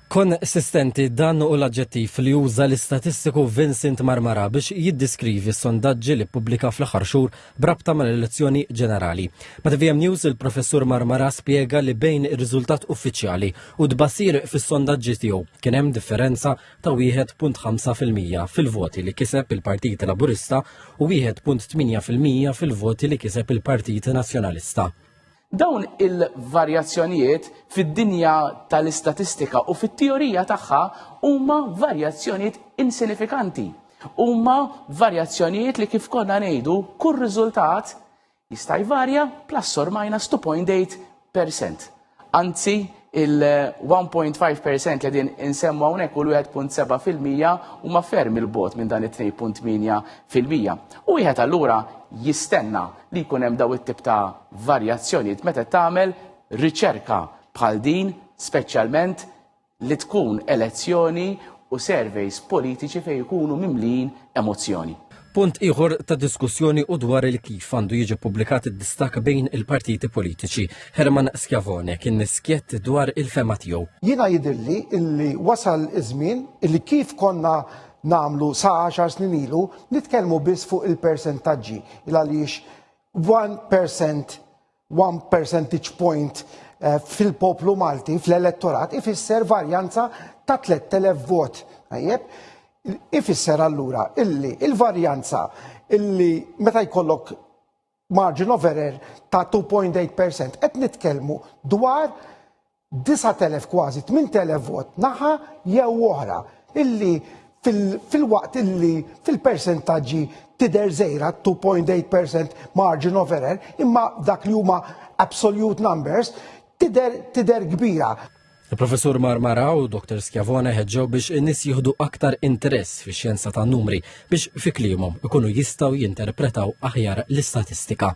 Konsistenti, dan hu l-aġġettiv li uża l-istatistiku Vincent Marmara biex jiddiskrivi s-sondaġġi li ppubblika fl-aħħar xhur b'rabta mal-elezzjoni ġenerali. Ma' TVM News il-Professur Marmara spjega li bejn ir-riżultat uffiċjali u d-tbassir fis-sondaġġi tiegħu kien hemm differenza ta' 1.5 fil-mija fil-voti li kiseb il-Partit Laburista u 1.8 fil-mija fil-voti li kiseb il-Partit Nazzjonalista. Dawn il-varjazzjonijiet fid-dinja tal-istatistika u fit-teorija tagħha huma varjazzjonijiet insinifikanti. Huma varjazzjonijiet li kif konna ngħidu kull riżultat jista' jvarja plus or minus 2.8%. Anzi, il-1.5 percent li din insemmu hawnhekk u l-1.7 fil-mija huma ferm il-bot minn dan it-2.8 fil-mija. U wieħed allura jistenna li jkun hemm daw it-tip ta' varjazzjonijiet meta tagħmel riċerka bħal din, speċjalment li tkun elezzjoni u surveys politiċi fejn ikunu mimlijin emozzjoni. Punt ieħor ta' diskussjoni u dwar il kif għandu jiġi publikat id-distak bejn il-partiti politiċi. Herman Schiavone kien niskjett dwar il-fema tiegħu. Jiena jidilli illi wasal iż-żmien illi kif konna namlu sa 10 snin ilu nitkellmu biss fuq il-persentaġġi il għaliex 1% One percentage point eh, fil-poplu Malti, fl-elettorat, ifisser varjanza ta' 3000 vot. Tajjeb, ifisser allura illi il-varjanza illi meta jkollok margin of error ta' 2.8% qed nitkellmu dwar 9,000 kważi 8,000 vot naħa jew oħra illi fil-waqt illi fil-persentaġġi tidher żgħira 2.8% margin of error imma dak li huma absolute numbers tidher kbira. Il-Professur Marmara u Dr. Schiavone ħeġġew biex in-nies jieħdu aktar interess fix-xjenza tan-numri biex fi kliemhom ikunu jistgħu jinterpretaw aħjar l-istatistika.